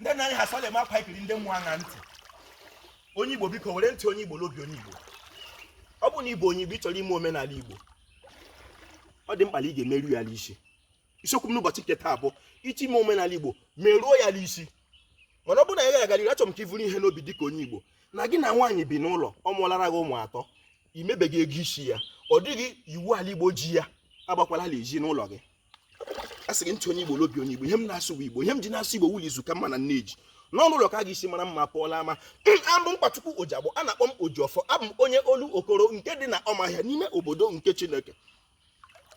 ndị nna anyị ha sị la ma a kwaa ikiri ndị mmụọ aṅa ntị onye igbo biko were ntị onye igbo n'obi onye igbo ọ bụ na ị bụ onye igbo ị chọrọ ime omenala igbo ọ dị mkpa na ị ga-emeru ya n'isi isiokwu m n'ụbọchị nke taa bụ ị chọ ime omenala igbo meruo ya n'isi mana ọ bụrụ na ị gara agarịrị achọrọ m ka i vuru ihe n'obi dịka onye igbo na gị na nwaanyị bi n'ụlọ ọ mụọlara gị ụmụ atọ i mebeghị ego isi ya ọ dịghị iwu ala igbo ji ya agbakwala ala ezinụlọ gị a sị gị ntị onye igbo l'obi onye igbo ihe m na-asụ bụ igbo ihe m ji na-asụ igbo wụ la izu ka mma na nneji n'ọnụ ụlọ ka a ga-esi mara mma pụọ l'ama abụ m Nkwachukwu Ojiagbọ a na-akpọ m Ojiọfọ abụ m onye Olokoro nke dị na Ụmụahịa n'ime obodo nke Chineke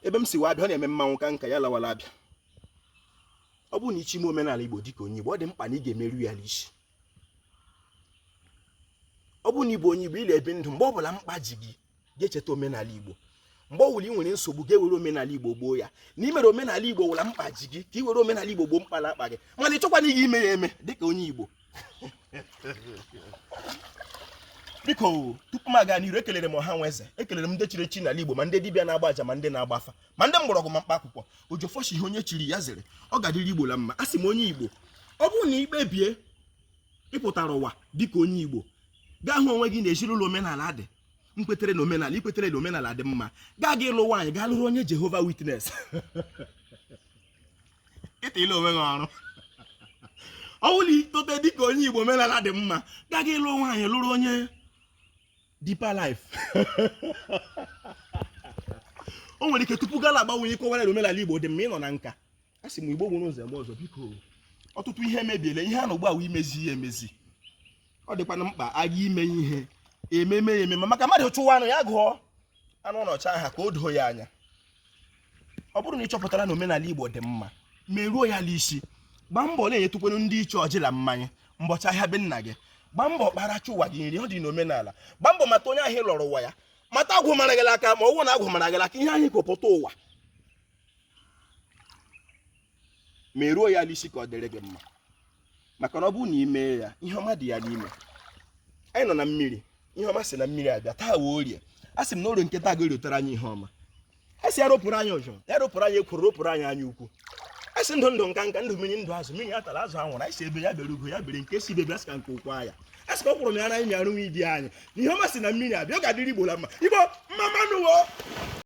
ebe m si wee abịa ọ na-eme mmanwụ ka nka ya lawara abịa ọ bụrụ na ị chọ ime omenala Igbo dịka onye Igbo ọ dị mkpa na ị ga-emeru ya n'isi ọ bụrụ na ị bụ onye Igbo ị la-ebi ndụ mgbe ọ bụla mkpa ji gị ga-echeta omenala Igbo mgbe ọ wụla ị nwere nsogbu ga-ewere omenala igbo gboo ya na i mere omenala igbo wụ la mkpa ji gị ka ị were omenala igbo gboo mkpa la-akpa gị mana ị chọkwana ihe ime ya eme dịka onye igbo biko tupu m aga n'iru ekelere m ọha na eze ekelere m ndị chiri echi n'ala igbo ma ndị dibịa na-agba aja ma ndị na-agba afa ma ndị mgbọrọgwụ ma mkpa akwụkwọ Ojiọfọ shị ihe onye chiri ya zere ọ ga-adịrị igbo la mma a sị m onye igbo ọ bụrụ na i kpebie ị pụtara ụwa dịka onye igbo gaa hụ onwe gị na ezinụlọ omenala ndị kwetere na omenala i kwetere na omenala dị mma gaa gị ịlụ nwaanyị gaa lụrụ onye Jehovah Witness i tiela onwe gị ọrụ ọ bụrụ na i tote dịka onye igbo omenala dị mma gaa gị ịlụ nwaanyị lụrụ onye Deeper Life o nwere ike tupu gị la-agbanwe ihe kọwara na omenala Igbo dị mma ị nọ na nka a sị m Igbo mụrụ nze mụọ ọzọ biko ọtụtụ ihe emebiela ihe a nọ ugbu a wụ imezi ihe emezi ọ dịkwanụ mkpa a ga ime ihe ememe ya ememe maka mmadụ chụwa anụ ya gụọ anụ ọ na-achụ aha ka o doo ya anya ọ bụrụ na ị chọpụtara na omenala Igbo dị mma meruo ya n'isi gbaa mbọ na-enyetụkwanụ ndị ichie ọjị la mmanya mbọchị ahịa be nna gị gbaa mbọ kpara chi ụwa gị nri ọ dị n'omenala gbaa mbọ mata onye ahụ ị lọrọ ụwa ya mata agwụ mara gị aka ma ọ wụ na agwụ mara gị aka ihe ahụ i kupụta ụwa meruo ya n'isi ka ọ dịrị gị mma maka na ọ bụrụ na i mee ya ihe ọma dị ya n'ime anyị nọ na mmiri ihe ọma si na mmiri abịa taa wụ orie a sị m na orie nke taa ga-erotara anyị ihe ọma a sị ya ropụrụ anyị ọjọọ ya ropụrụ anyị ekworo ropụrụ anyị anya ukwu a sị ndụ ndụ nka nka ndụ mmiri ndụ azụ mmiri ya atala azụ anwụla anyị sị egbe ya bere ugo ya bere nke sị ibe ebe a sị ka nku kwaa ya a sị ka ọ kwụrụ m ya na anyị mịarụ nwa idi anyị na ihe ọma si na mmiri abịa ọ ga-adịrị igbo la mma igbo mma mma nụ o